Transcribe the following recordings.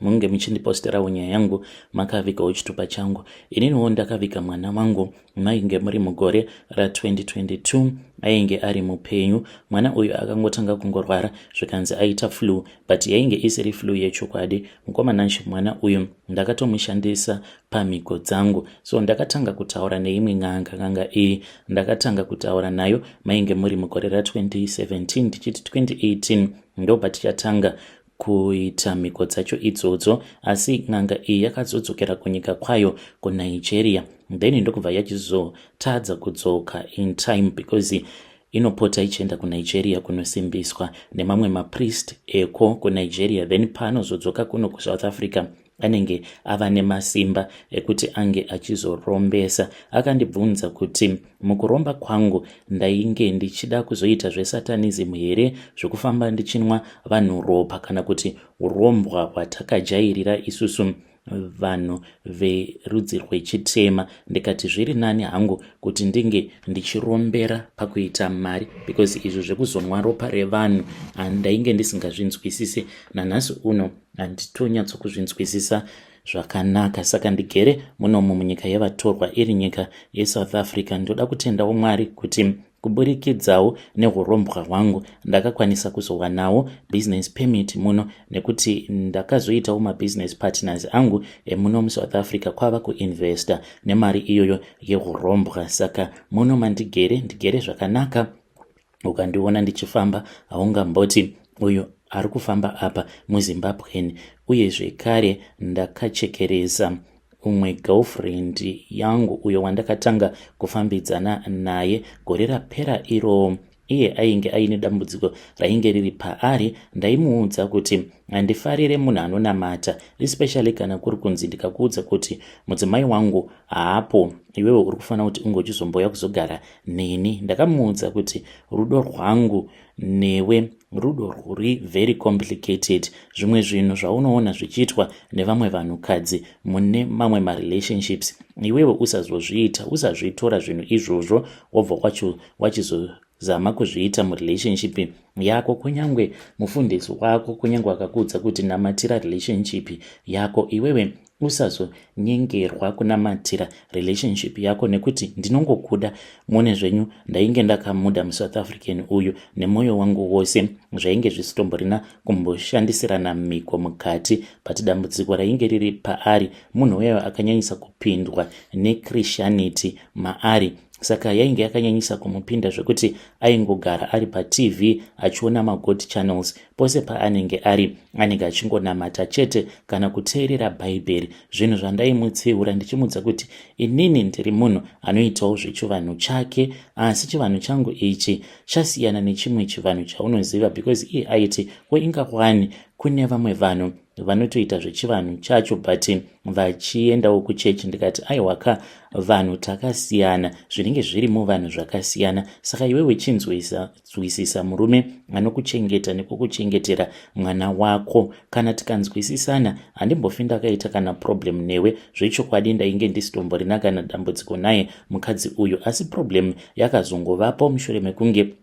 munge muchindiposterawo nyaya yangu makavigawo chitupa changu ininiwo ndakaviga mwana wangu mainge muri mugore ra2022 ainge ari mupenyu mwana uyu akangotanga kungorwara zvikanzi aita flu but yainge isiri flu yechokwadi mukomananshi mwana uyu ndakatomushandisa pamhiko dzangu so ndakatanga kutaura neimwe n'anga n'anga iyi ndakatanga kutaura nayo mainge muri mugore ra2017 tichiti 2018 ndobatichatanga kuita mhiko dzacho idzodzo asi n'anga iyi yakazodzokera kunyika kwayo kunigeria then ndokubva yachizotadza kudzoka in time because inopota ichienda kunigeria kunosimbiswa nemamwe mapriest eko kunigeria then paanozodzoka kuno kusouth africa anenge ava nemasimba ekuti ange achizorombesa akandibvunza kuti mukuromba kwangu ndainge ndichida kuzoita zvesatanism here zvekufamba ndichinwa vanhu ropa kana kuti urombwa hwatakajairira isusu vanhu verudzi rwechitema ndikati zviri nani hangu kuti ndinge ndichirombera pakuita mari because izvo zvekuzonwa ropa revanhu handainge ndisingazvinzwisise nanhasi uno handitonyatsokuZvinzwisisa zvakanaka saka ndigere munomu munyika yevatorwa iri nyika yesouth africa ndoda kutendawo mwari kuti kuburikidzawo neurombwa hwangu ndakakwanisa kuzowanawo business permit muno nekuti ndakazoitawo mabusiness partners angu emuno musouth africa kwava kuinvesta nemari iyoyo yeurombwa saka muno mandigere ndigere zvakanaka ukandiona ndichifamba haungamboti uyu ari kufamba apa muzimbabwen uye zvekare ndakachekeresa umwe girlfriend yangu uyo wandakatanga kufambidzana naye gore rapera iroo iye ainge aine dambudziko rainge riri paari ndaimuudza kuti handifarire munhu anonamata especially kana kuri kunzi ndikakuudza kuti mudzimai wangu haapo iwewe uri kufanira kuti unge uchizomboya kuzogara neni ndakamuudza kuti rudo rwangu newe rudo rwuri very complicated zvimwe zvinhu zvaunoona zvichiitwa nevamwe vanhukadzi mune mamwe marelationships iwewo usazozviita usazvitora zvinhu izvozvo wobva kwacho wachizozama kuzviita murelationship yako kunyange mufundisi wako kunyange wakakuudza kuti namatira relationship yako iwewe usazonyengerwa kunamatira relationship yako nekuti ndinongokuda mune zvenyu ndainge ndakamuda musouth african uyu nemwoyo wangu wose zvainge zvisitomborina kumboshandisirana mhiko mukati but dambudziko rainge riri paari munhu uyayo akanyanyisa kupindwa nechrisianity maari saka yainge yakanyanyisa kumupinda zvekuti aingogara ari patv achiona magood channels Pose paanenge ari, anenge achingonamata chete kana kuteerera Bhaibheri, zvinhu zvandaimutsiura ndichimudza kuti inini ndiri munhu anoitawo zvechivanhu chake, asi chivanhu changu ichi chasiyana nechimwe chivanhu chaunoziva because iye aiti ko inga kwani kune vamwe vanhu vanotoita zvechivanhu chacho but vachiendawo kuchechi ndikati aiwaka vanhu takasiyana zvinenge zviri muvanhu zvakasiyana saka iwe wechinzwisa Nzwisisa murume anokuchengeta nekukuchengetera mwana wako. Kana tikanzwisisana, handimbofi ndakaita kana problem newe. Zvechokwadi ndainge ndisitomborina kana dambudziko naye mukadzi uyu, asi problem yakazongovapo mushure mekunge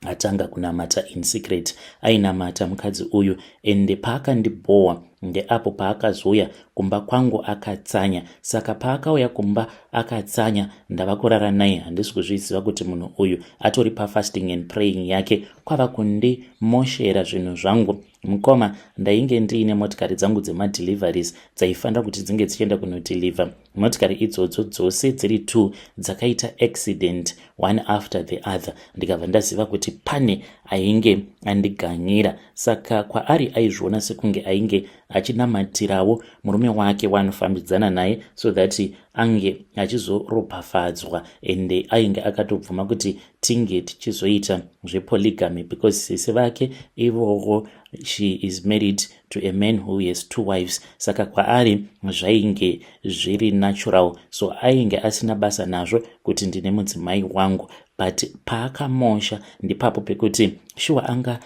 atanga kunamata in secret ainamata mukadzi uyu ende paakandibhowa ndeapo paakazouya kumba kwangu akatsanya saka paakauya kumba akatsanya ndava kurara naye handisi kuzviziva kuti munhu uyu atori pafasting and praying yake kwava kundimoshera zvinhu zvangu mukoma ndainge ndiine motikari dzangu dzemadeliveries dzaifanira kuti dzinge dzichienda kunodeliver motikari idzodzo dzose dziri two dzakaita accident one after the other ndikabva ndaziva kuti pane ainge andiganyira saka kwaari aizviona sekunge ainge achinamatirawo murume wake waanofambidzana naye so that ange achizoropafadzwa and ainge akatobvuma kuti tinge tichizoita zvepoligamy because sisi vake ivovo she is married to a man who has two wives saka kwaari zvainge zviri natural so ainge asina basa nazvo kuti ndine mudzimai wangu but paakamosha ndipapo pekuti shuwa anga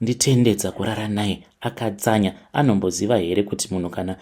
Nditende dzakurara naye akatsanya anomboziva here kuti munhu kana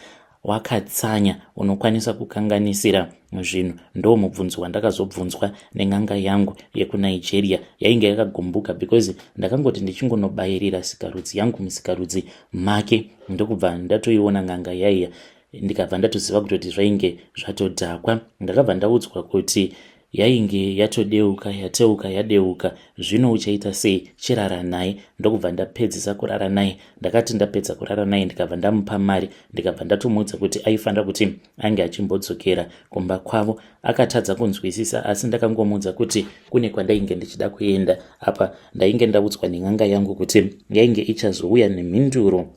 wakatsanya unokwanisa kukanganisira zvinhu ndo mubvunzo wandakazobvunzwa nen'anga yangu yekunigeria yainge yakagumbuka because ndakangoti ndichingonobayirira sikarudzi yangu musikarudzi make ndokubva ndatoiona n'anga yaiya ndikabva ndatoziva kutoti zvainge zvatodhakwa ndakabva ndaudzwa kuti yainge yatodeuka yateuka yadeuka zvino uchaita sei chirara naye ndokubva ndapedzisa kurara naye ndakati ndapedza kurara naye ndikabva ndamupa mari ndikabva ndatomuudza kuti aifanira kuti ange achimbodzokera kumba kwavo akatadza kunzwisisa asi ndakangomuudza kuti kune kwandainge ndichida kuenda apa ndainge ndaudzwa nen'anga yangu kuti yainge ichazouya nemhinduro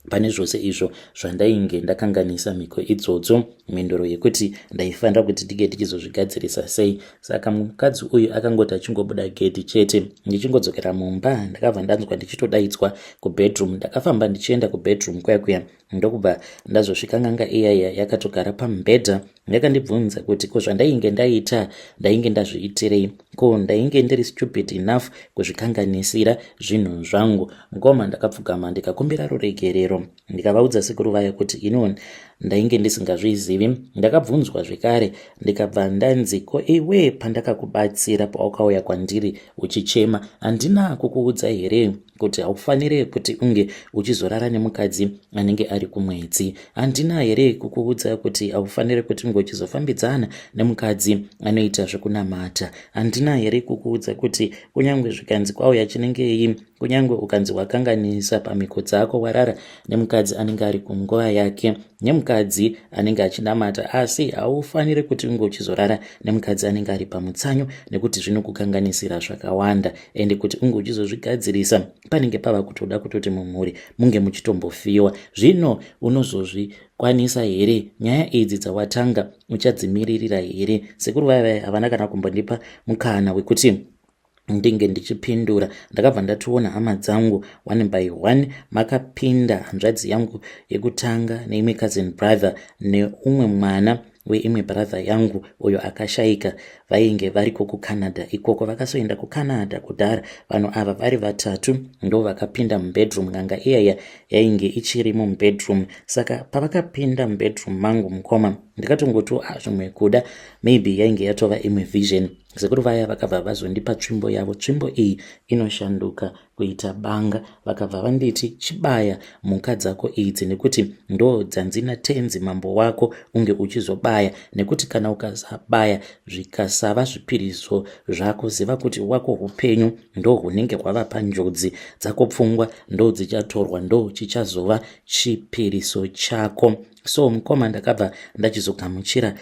pane zvose izvo zvandainge ndakanganisa mhiko idzodzo mhinduro yekuti ndaifanira kuti tige tichizozvigadzirisa sei saka mukadzi uyu akangoti achingobuda gedhi chete ndichingodzokera mumba ndakabva ndanzwa ndichitodaidzwa kubedroom ndakafamba ndichienda kubedroom kuya kuya ndokubva ndazosvika nganga iyaya yakatogara pamubhedha yakandibvunza kuti ko zvandainge ndaita ndainge ndazviitirei ko ndainge ndiri stupid enough kuzvikanganisira zvinhu zvangu mukoma ndakapfugama ndikakumbira ruregerero ndikavaudza sekuru vaya kuti ino ndainge ndisingazvizivi ndakabvunzwa zvekare ndikabva ndanzi ko iwe pandakakubatsira pawakauya kwandiri uchichema handina kukuudza here kuti haufanire kuti unge uchizorara nemukadzi anenge ari kumwedzi handina here kukuudza kuti haufanire kuti unge uchizofambidzana nemukadzi anoita zvekunamata handina here kukuudza kuti kunyange zvikanzi kwauya chinengei kunyange ukanzi wakanganisa pamhiko dzako warara nemukadzi anenge ari kunguva yake nemukadzi anenge achinamata asi haufanire kuti unge uchizorara nemukadzi anenge ari pamutsanyo nekuti zvinokukanganisira zvakawanda ende kuti unge uchizozvigadzirisa panenge pava kutoda kutoti mumhuri munge muchitombofiwa zvino unozozvikwanisa here nyaya idzi dzawatanga uchadzimiririra here sekuru vaiva havana kana kumbondipa mukana wekuti ndinge ndichipindura ndakabva ndatoona hama dzangu one by one makapinda hanzvadzi yangu yekutanga neimwe cousin brother neumwe mwana ne weimwe brother yangu uyo akashaika vainge variko kucanada ikoko vakasoenda kucanada kudhara vanhu ava vari vatatu ndo vakapinda mubedroom n'anga iyaya yainge ichirimo mubedroom saka pavakapinda mubedroom mangu mukoma ndikatongoti ah, zvimwe kuda maybe yainge yatova imwe vision sekuru vaya vakabva vazondipa tsvimbo yavo tsvimbo iyi inoshanduka kuita banga vakabva vanditi chibaya mhuka dzako idzi nekuti ndo dzanzina tenzi mambo wako unge uchizobaya nekuti kana ukasabaya zvikasava zvipiriso zvako ziva kuti wako upenyu ndo hunenge hwava panjodzi dzako pfungwa ndo dzichatorwa ndo chichazova chipiriso chako so mukoma ndakabva ndachizogamuchira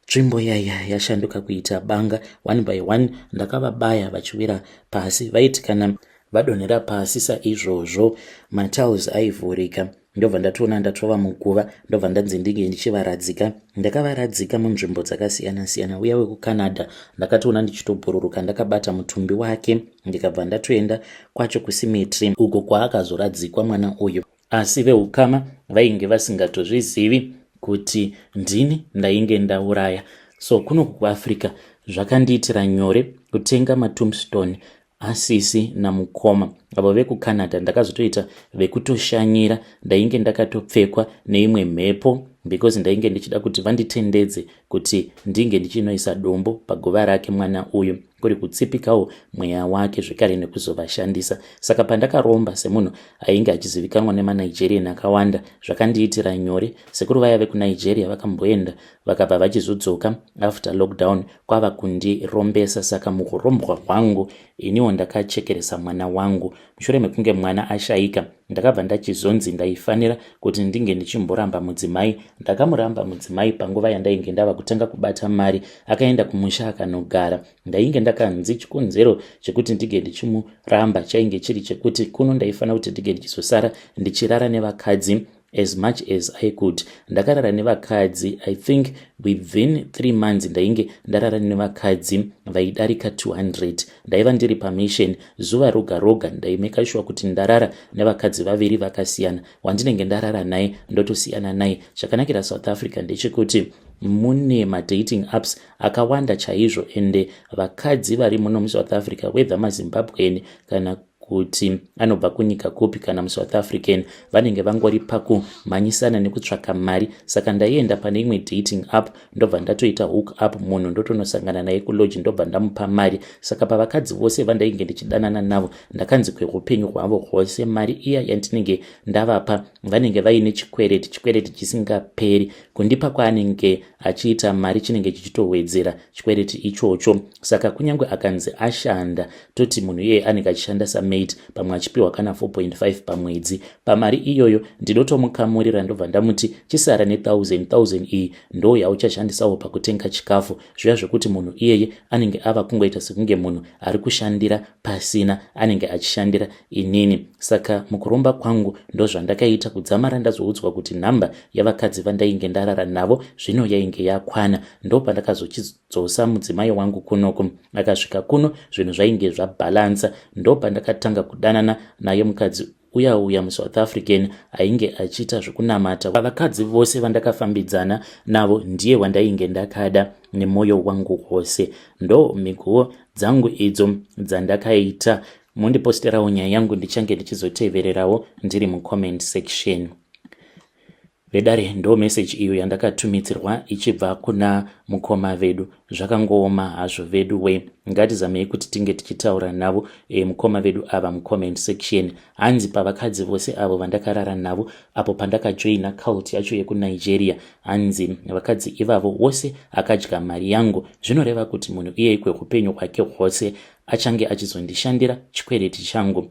Tsvimbo yaya yashanduka kuita banga one by one ndakavabaya vachiwira pasi vaiti kana vadonhera pasi saizvozvo matiles aivhurika ndobva ndatoona ndatova muguva ndobva ndanzi ndinge ndichivaradzika ndakavaradzika munzvimbo dzakasiyana-siyana uya wekucanada ndakatoona ndichitobhururuka ndakabata mutumbi wake ndikabva ndatoenda kwacho kusimetri uko kwaakazoradzikwa mwana uyu Asi veukama vainge vasingatozvizivi kuti ndini ndainge ndauraya. So kunoku kuAfrica zvakandiitira nyore kutenga matombstone asisi namukoma avo vekucanada ndakazotoita vekutoshanyira ndainge ndakatopfekwa neimwe mhepo because ndainge ndichida kuti vanditendedze kuti ndinge ndichinoisa dombo paguva rake mwana uyu kuri kutsipikawo mweya wake zvekare nekuzovashandisa saka pandakaromba semunhu ainge achizivikanwa nemanigerian akawanda zvakandiitira nyore sekuru vaya vekunigeria vakamboenda vakabva vachizodzoka after lockdown kwava kundirombesa saka mukurombwa hwangu iniwo ndakachekeresa mwana wangu Mushure mekunge mwana ashaika, ndakabva ndachizonzi ndaifanira kuti ndinge ndichimboramba mudzimai. Ndakamuramba mudzimai panguva yandainge ndava kutanga kubata mari, akaenda kumusha akanogara. Ndainge ndakanzi chikonzero chekuti ndinge ndichimuramba chainge chiri chekuti kuno ndaifanira kuti ndinge ndichizosara ndichirara nevakadzi as much as i could ndakarara nevakadzi i think within three months ndainge ndarara nevakadzi vaidarika 200 ndaiva ndiri pamishon zuva roga roga ndaimeka shuwa kuti ndarara nevakadzi vaviri vakasiyana wandinenge ndarara naye ndotosiyana naye chakanakira south africa ndechekuti mune madating apps akawanda chaizvo ende vakadzi vari muno musouth africa wether mazimbabwen kana kuti anobva kunyika kupi kana musouth african vanenge vangori pakumhanyisana nekutsvaka mari saka ndaienda pane imwe dating app ndobva ndatoita hook up munhu ndotonosangana naye kuloji ndobva ndamupa mari saka pavakadzi vose vandainge ndichidanana navo ndakanzi kweupenyu hwavo hwose mari iya yandinenge ndavapa vanenge vaine chikwereti chikwereti chisingaperi kundipa kwaanenge achiita mari chinenge chichitowedzera chikwereti ichocho saka kunyange akanzi ashanda toti munhu iyeye anenge achishanda samaid pamwe achipiwa kana 4.5 pamwedzi pamari iyoyo ndinotomukamurira ndobva ndamuti chisara ne1000 iyi ndo yauchashandisawo pakutenga chikafu zviya zvekuti munhu iyeye anenge ava kungoita sekunge munhu ari kushandira pasina anenge achishandira inini saka mukuromba kwangu ndozvandakaita kudzamara ndazoudzwa kuti nhamba yavakadzi vandainge ndarara navo zvino yainge yakwana ndopandakazochidzosa mudzimai wangu kunoku akasvika kuno zvinhu zvainge zvabhalansa ndopandakatanga kudanana naye mukadzi uye auya musouth african ainge achiita zvekunamata vakadzi vose vandakafambidzana navo ndiye wandainge ndakada nemwoyo wangu wose ndo mhikuwo dzangu idzo dzandakaita mundiposterawo nyaya yangu ndichange ndichizotevererawo ndiri mucomment section Vedare ndo message iyo yandakatumidzirwa ichibva kuna mukoma vedu zvakangooma hazvo vedu we ngatizamei kuti tinge tichitaura navo e, mukoma vedu ava mucomment section hanzi pavakadzi vose avo vandakarara navo apo pandakajoina cult yacho yekunigeria hanzi vakadzi ivavo wose akadya mari yangu zvinoreva kuti munhu iyeyikwe upenyu hwake hwose achange achizondishandira chikwereti changu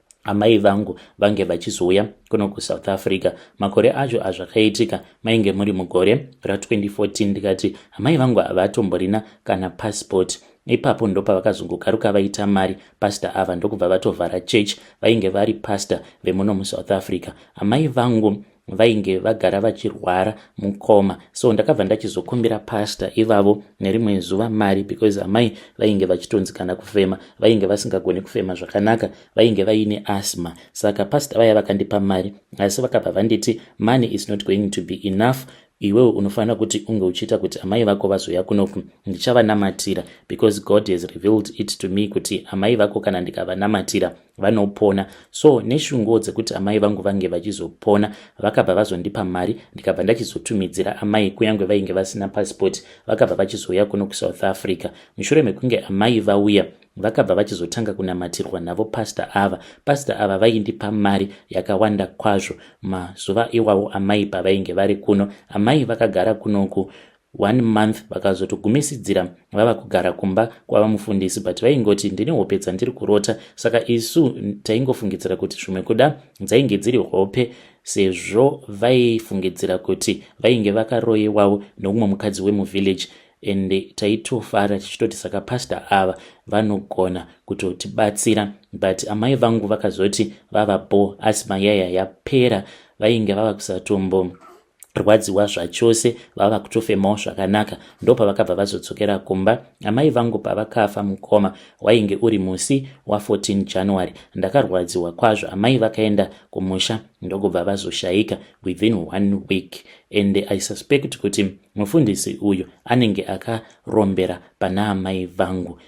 amai vangu vange vachizouya kuno kusouth africa makore acho azvakaitika mainge muri mugore ra2014 ndikati amai vangu havatomborina kana passport ipapo ndopavakazongokaruka vaita mari pasta ava ndokubva vatovhara church vainge vari pasta vemuno musouth africa amai vangu vainge vagara vachirwara mukoma so ndakabva ndachizokumbira pasta ivavo nerimwe zuva mari because amai vainge vachitonzi kana kufema vainge vasingagoni kufema zvakanaka vainge vaine asma saka pasta vaya vakandipa mari asi vakabva vanditi money is not going to be enough iwewo unofanira kuti unge uchiita kuti amai vako vazouya kunoku ndichavanamatira because god has revealed it to me kuti amai vako kana ndikavanamatira vanopona so neshunguwo dzekuti amai vangu vange vachizopona vakabva vazondipa mari ndikabva ndachizotumidzira amai kunyange vainge vasina pasipoti vakabva vachizouya kuno kusouth africa mushure mekunge amai vauya vakabva vachizotanga kunamatirwa navo pasta ava pasta ava vaindipa mari yakawanda kwazvo mazuva iwawo amai pavainge vari kuno amai vakagara kunoku one month vakazotogumisidzira vava kugara kumba kwava mufundisi but vaingoti ndine hope dzandiri kurota saka isu taingofungidzira kuti zvimwe kuda dzainge dziri hope sezvo vaifungidzira kuti vainge vakaroyewawo noumwe mukadzi wemuvillage and taitofara tichitoti saka pastor ava vanogona kutotibatsira but amai vangu vakazoti vava bo asi mayaya yapera vainge vava kusatombo rwadziwa zvachose vava kutofemawo zvakanaka ndopavakabva vazodzokera kumba amai vangu pavakafa mukoma wainge uri musi wa14 january ndakarwadziwa kwazvo amai vakaenda kumusha ndokubva vazoshaika within one week and i suspect kuti mufundisi uyu anenge akarombera pana amai vangu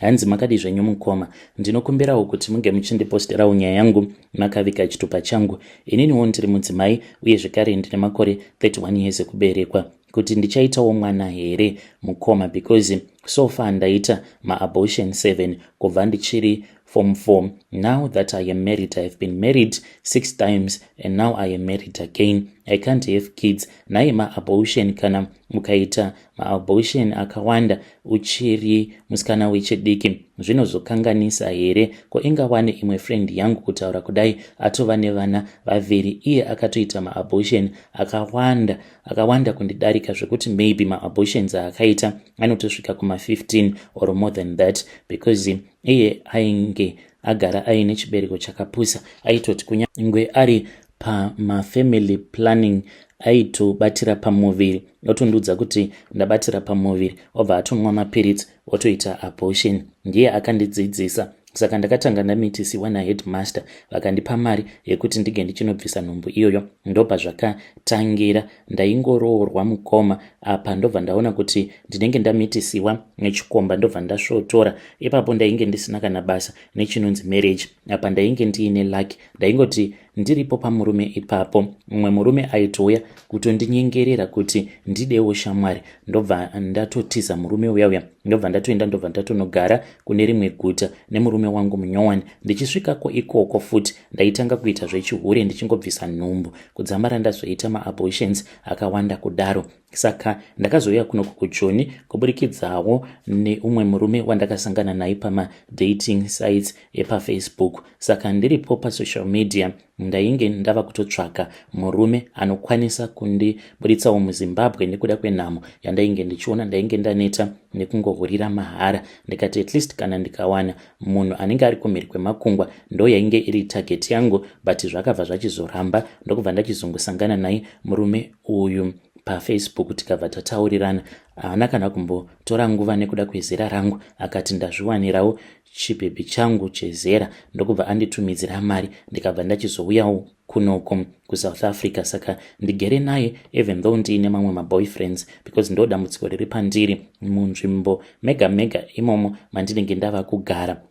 hanzi makadii zvenyu mukoma ndinokumbirawo kuti munge muchindiposterawo nyaya yangu makaviga chitupa changu ininiwo ndiri mudzimai uye zvekare ndine makore 31 years ekuberekwa kuti ndichaitawo mwana here mukoma because so far ndaita maabortion 7 kubva ndichiri form 4 now that i am married i have been married six times and now i am married again i can't have kids naye maabortion kana mukaita Maabortion akawanda uchiri musikana wechidiki zvinozokanganisa here? Ko inga wani imwe friend yangu kutaura kudai atova nevana vaviri iye akatoita maabortion akawanda akawanda kundidarika zvekuti maybe maabortions aakaita anotosvika kuma 15 or more than that because iye ainge agara aine chibereko chakapusa aitoti kunyangwe ari pamafamily planning aitobatira pamuviri otondiudza kuti ndabatira pamuviri obva atonwa mapiritsi otoita abortion ndiye akandidzidzisa saka ndakatanga ndamitisiwa naheadmaster vakandipa mari yekuti ndige ndichinobvisa nhumbu iyoyo ndobva zvakatangira ndaingoroorwa mukoma apa ndobva ndaona kuti ndinenge ndamitisiwa nechikomba ndobva ndasvotora ipapo ndainge ndisina kana basa nechinonzi marriage apa ndainge ndiine lucky ndaingoti ndiripo pamurume ipapo mumwe murume aitouya kutondinyengerera kuti ndidewo shamwari ndobva ndatotiza murume uya uya ndobva ndatoenda ndobva ndatonogara kune rimwe guta nemurume wangu munyowani ndichisvikako ikoko futi ndaitanga kuita zvechihure ndichingobvisa nhumbu kudzamara ndazoita maabortions akawanda kudaro saka ndakazouya kuno kukujoni kuburikidzawo neumwe murume wandakasangana naye pamadating sites epafacebook saka ndiripo pasocial media ndainge ndava kutotsvaka murume anokwanisa kundiburitsawo muzimbabwe nekuda kwenhamo yandainge ndichiona ndainge ndaneta nekungohurira mahara ndikati at least kana ndikawana munhu anenge ari kumhiri kwemakungwa ndo yainge iri target yangu but zvakabva zvachizoramba ndokubva ndachizongosangana naye murume uyu pafacebook tikabva tataurirana haana kana kumbotora nguva nekuda kwezera rangu akati ndazviwanirawo chibhebhi changu chezera ndokubva anditumidzira mari ndikabva ndachizouyawo kunoko kusouth africa saka ndigere naye even though ndiine mamwe maboyfriends because ndo dambudziko riri pandiri munzvimbo mega mega imomo mandinenge ndava kugara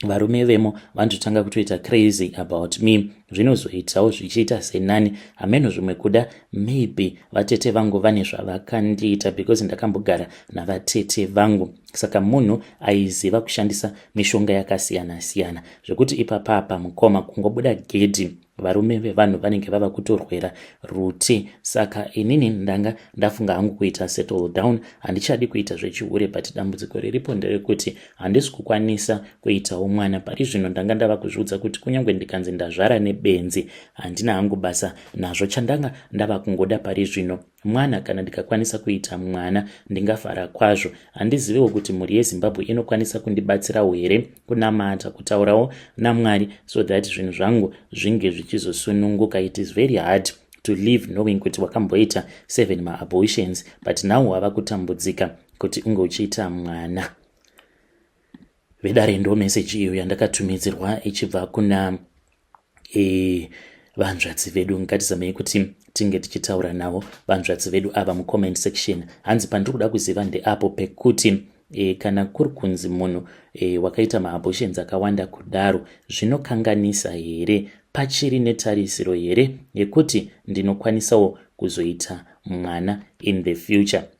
varume vemo vanototanga kutoita crazy about me zvinozoitawo zvichiita senani hameno zvimwe kuda maybe vatete vangu vane zvavakandiita because ndakambogara navatete vangu saka munhu aiziva kushandisa mishonga yakasiyana-siyana zvekuti ipapapa mukoma kungobuda gedhi varume vevanhu vanenge vava kutorwera ruti saka inini ndanga ndafunga hangu kuita settle down handichadi kuita zvechihure but dambudziko riripo nderekuti handisi kukwanisa kuitawo mwana pari zvino ndanga ndava kuzviudza kuti kunyange ndikanzi ndazvara nebenzi handina hangu basa nazvo chandanga ndava kungoda pari zvino mwana kana ndikakwanisa kuita mwana ndingafara kwazvo handizivewo kuti mhuri yezimbabwe inokwanisa kundibatsirawo here kunamata kutaurawo namwari so that zvinhu zvangu zvinge zvichizosununguka it is very hard to live knowing kuti wakamboita seven maabortions but now wava kutambudzika kuti unge uchiita mwana vedare ndo meseji iyo yandakatumidzirwa ichibva kuna Eh, vanzvadzi vedu ngatizamei kuti tinge tichitaura navo vanzvadzi vedu ava mucomment section hanzi pandiri kuda kuziva ndeapo pekuti e, kana kuri kunzi munhu e, wakaita maabortions akawanda kudaro zvinokanganisa here pachiri netarisiro here yekuti ndinokwanisawo kuzoita mwana in the future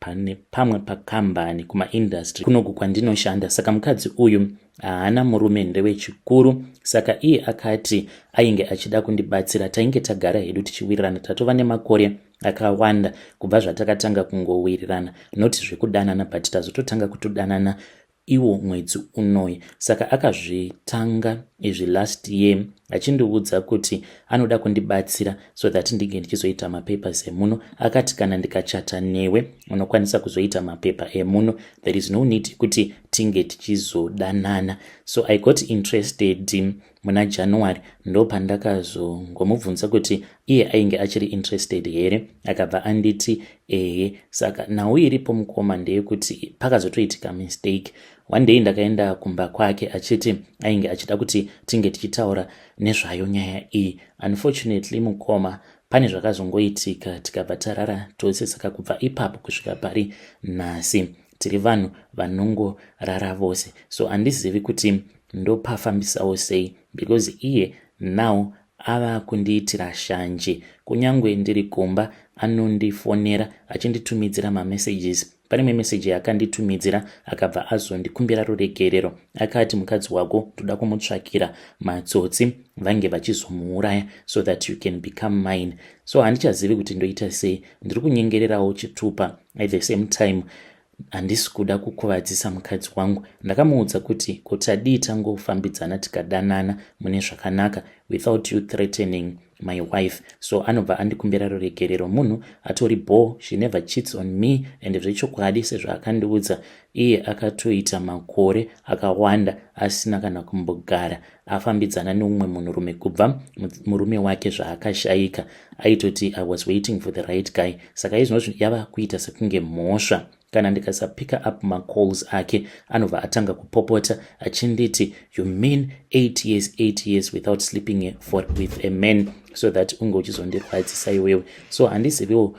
pane pamwe pakambani kumaindastry kunoku kwandinoshanda saka mukadzi uyu haana murume ndewechikuru saka iye akati ainge achida kundibatsira tainge tagara hedu tichiwirirana tatova nemakore akawanda kubva zvatakatanga kungowirirana not zvekudanana but tazototanga kutodanana iwo mwedzi unoyi saka akazvitanga izvi last year achindiudza kuti anoda kundibatsira so that ndinge ndichizoita mapapers emuno akati kana ndikachata newe unokwanisa kuzoita mapepa emuno there is no need kuti tinge tichizodanana so i got interested muna january ndopandakazongomubvunza kuti iye ainge achiri interested here akabva anditi ehe saka nhau iripo mukoma ndeyekuti pakazotoitika mistake one day ndakaenda kumba kwake achiti ainge achida kuti tinge tichitaura nezvayo nyaya iyi unfortunately mukoma pane zvakazongoitika tikabva tarara tose saka kubva ipapo kusvika pari nhasi tiri vanhu vanongorara vose so handizivi kuti ndopafambisawo sei because iye now ava kundiitira shanje kunyange ndiri kumba anondifonera achinditumidzira mamessages pane imwe meseji yaakanditumidzira akabva azondikumbira ruregerero akati mukadzi wako ndoda kumutsvakira matsotsi vange vachizomuuraya so that you can become mine so handichazivi kuti ndoita sei ndiri kunyengererawo chitupa at the same time handisi kuda kukuvadzisa mukadzi wangu ndakamuudza kuti ko tadii tangofambidzana tikadanana mune zvakanaka without you threatening my wife so anobva andikumbira ruregerero munhu atori bho she never cheats on me and zvechokwadi sezvaakandiudza iye akatoita makore akawanda asina kana kumbogara afambidzana neumwe munhurume kubva murume wake zvaakashaika aitoti i was waiting for the right guy saka izvinozvi yava kuita sekunge mhosva kana ndikasapicker up macalls ake anobva atanga kupopota achinditi you mean 8 years 8 years without sleeping for with a man so that unge uchizondirwadzisa iwewe so handiziviwo